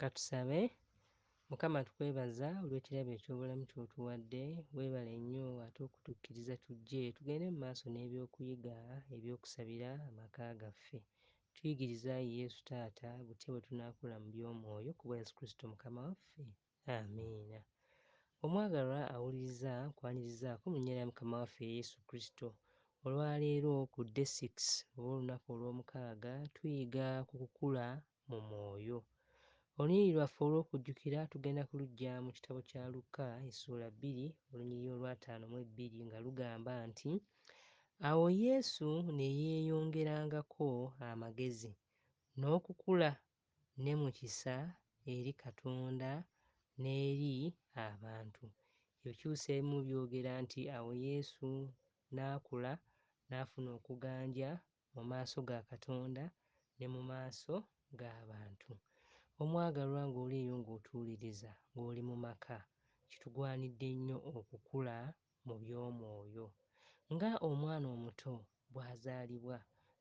Katusabe. Mukama tukwebaza olw'ekirabo eky'obulamu ky'otuwadde, weebale nnyo ate okutukkiriza tujje tugende mu maaso n'ebyokuyiga eby'okusabira amaka gaffe. Tuyigirize ayi Yesu Taata butya bwe tunaakula mu by'omwoyo kubwa Yesu Kristo Mukama waffe. Amiina. Omwagalwa awuliriza nkwanirizaako mu nnya lya Mukama waffe Yesu Kristo. Olwaleero ku Dde Six oba olunaku olw'omukaaga tuyiga ku kukula mu mwoyo. Olunyiriri lwaffe olw'okujjukira tugenda kuluggya mu kitabo kya Lukka essuula bbiri olunyiriri olw'ataano mu ebbiri nga lugamba nti, Awo Yesu ne yeeyongerangako amagezi, n'okukula ne mu kisa eri Katonda n'eri abantu. Ebikyusa ebimu byogera nti awo Yesu n'akula n'afuna okuganja mu maaso ga Katonda ne mu maaso g'abantu. Omwagalwa, ng'oli eyo ng'otuuliriza, ng'oli mu maka, kitugwanidde nnyo okukula mu by'omwoyo. Nga omwana omuto bw'azaalibwa,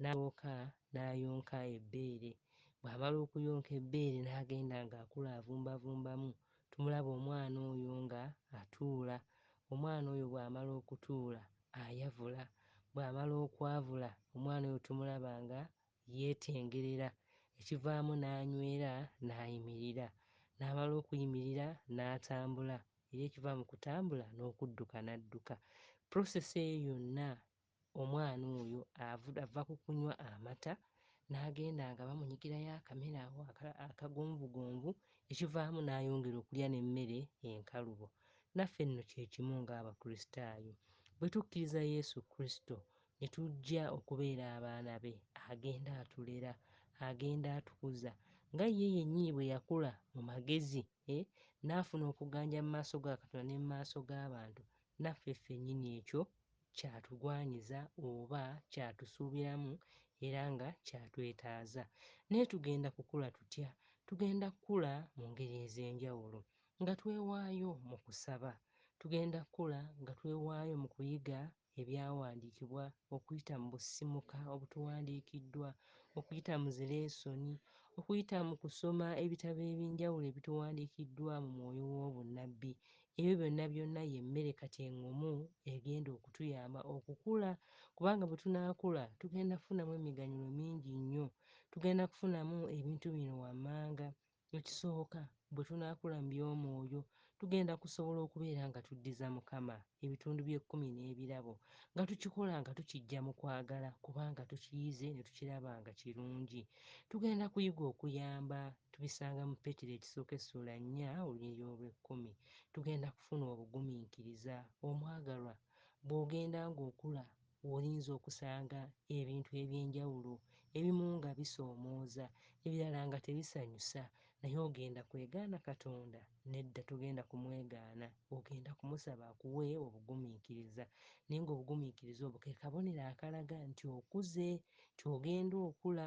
n'asooka n'ayonka ebbeere, bw'amala okuyonka ebbeere n'agenda ng'akula avumbavumbamu, tumulaba omwana oyo nga atuula. Omwana oyo bw'amala okutuula, ayavula. Bw'amala okwavula, omwana oyo tumulaba nga yeetengerera, ekivaamu n'anywera n'ayimirira. N'amala okuyimirira n'atambula. era ekiva mu kutambula n'okudduka n'adduka. Process eyo yonna omwana oyo ava ku kunywa amata n'agenda nga bamunyigirayo akamere ako akagonvugonvu ekivaamu n'ayongera okulya n'emmere enkalubo naffe nno kye kimu ng'abakristaayo bwe tukkiriza yesu kristo ne tujja okubeera abaana be agenda atulera agenda atukuza nga ye yennyini bwe yakula mu magezi eh, n'afuna okuganja mu maaso ga Katonda ne mu maaso g'abantu, naffe ffennyini ekyo kyatugwanyiza oba kyatusuubiramu era nga kyatwetaaza. Naye tugenda kukula tutya? Tugenda kukula mu ngeri ez'enjawulo nga twewaayo mu kusaba. Tugenda kukula nga twewaayo mu kuyiga ebyawandiikibwa okuyita mu busimuka obutuwandiikiddwa, okuyita mu zi leesoni, okuyita mu kusoma ebitabo eby'enjawulo ebituwandiikiddwa mu mwoyo w'obunnabbi. Ebyo byonna byonna ye mmere kati eng'omu egenda okutuyamba okukula kubanga bwe tunaakula tugenda kufunamu emiganyulo mingi nnyo. Tugenda kufunamu ebintu bino wammanga. Ekisooka, bwe tunaakula mu by'omwoyo, tugenda kusobola okubeera nga tuddiza Mukama ebitundu by'ekkumi n'ebirabo, nga tukikola nga tukiggya mu kwagala kubanga tukiyize ne tukiraba nga kirungi. Tugenda kuyiga okuyamba. Tubisanga mu Petero ekisooka essuula nnya olunyiriri olw'ekkumi. Tugenda kufuna obugumiikiriza. Omwagalwa, bw'ogenda ng'okula, w'oyinza okusanga ebintu eby'enjawulo, ebimu nga bisoomooza, ebirala nga tebisanyusa, naye ogenda kwegaana Katonda? Nedda, togenda kumwegaana. Ogenda kumusaba akuwe obugumiikiriza. Naye nga obugumiikiriza obwo ke kabonero akalaga nti okuze, nti ogenda okula,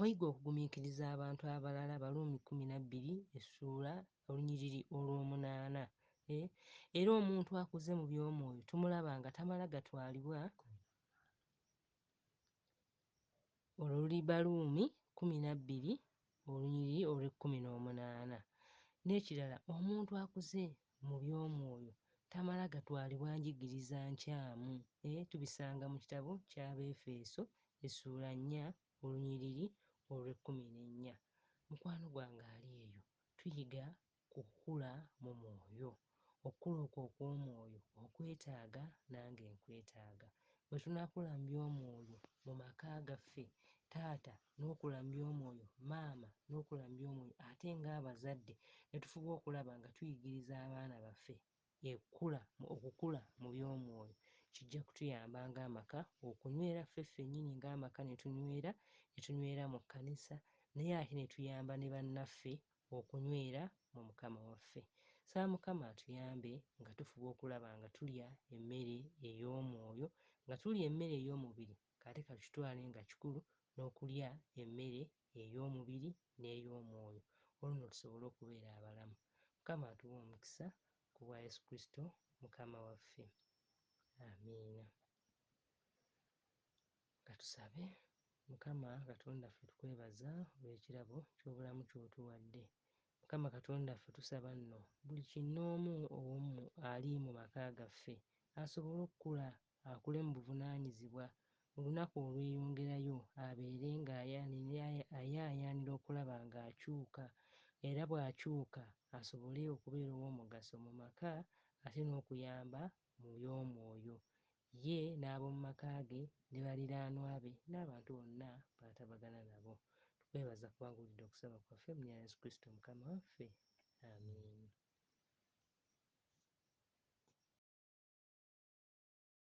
Oyiga okugumiikiriza abantu abalala, Abaruumi kkumi na bbiri essuula olunyiriri olw'omunaana. E, era omuntu akuze mu by'omwoyo tumulaba nga tamala gatwalibwa olwo luli Baruumi kkumi na bbiri olunyiriri olw'ekkumi n'omunaana. N'ekirala omuntu akuze mu by'omwoyo tamala gatwalibwa njigiriza nkyamu. E. Tubisanga mu kitabo ky'Abeefeeso essuula nnya olunyiriri olw'ekkumi n'ennya. Mukwano gwange ali eyo, tuyiga ku kukula mu mwoyo. Okukula okwo okw'omwoyo okwetaaga, nange nkwetaaga. Bwe tunakula mu by'omwoyo mu maka gaffe, taata n'okula mu by'omwoyo, maama n'okula mu by'omwoyo ate ng'abazadde ne tufuba okulaba nga tuyigiriza abaana baffe ekkula okukula mu by'omwoyo kijja kutuyamba ng'amaka okunywera ffe ffennyini ng'amaka ne tunywera ne tunywera mu kkanisa naye ate ne tuyamba ne bannaffe okunywera mu Mukama waffe. Nsaba Mukama atuyambe nga tufuba okulaba nga tulya emmere ey'omwoyo nga tulya emmere ey'omubiri Kati ka tukitwale nga kikulu n'okulya emmere ey'omubiri n'ey'omwoyo, olwo nno tusobole okubeera abalamu. Mukama atuwe omukisa, ku bwa Yesu Kristo Mukama waffe. Amiina. Ka tusabe. Mukama Katonda waffe, tukwebaza olw'ekirabo ky'obulamu ky'otuwadde. Mukama Katonda waffe, tusaba nno buli kinnoomu ow'omu ali mu maka gaffe asobole okukula akule mu buvunaanyizibwa, mu lunaku olweyongerayo abeere ng'ayaayaanira okulaba ng'akyuka era bw'akyuka asobole okubeera ow'omugaso mu maka ate n'okuyamba mu by'omwoyo ye n'ab'omu maka ge ne baliraanwa be n'abantu bonna b'atabagana nabo. Tukwebaza kubanga owulidde okusaba kwaffe, mu lya Yesu Kristo Mukama waffe. Amiina.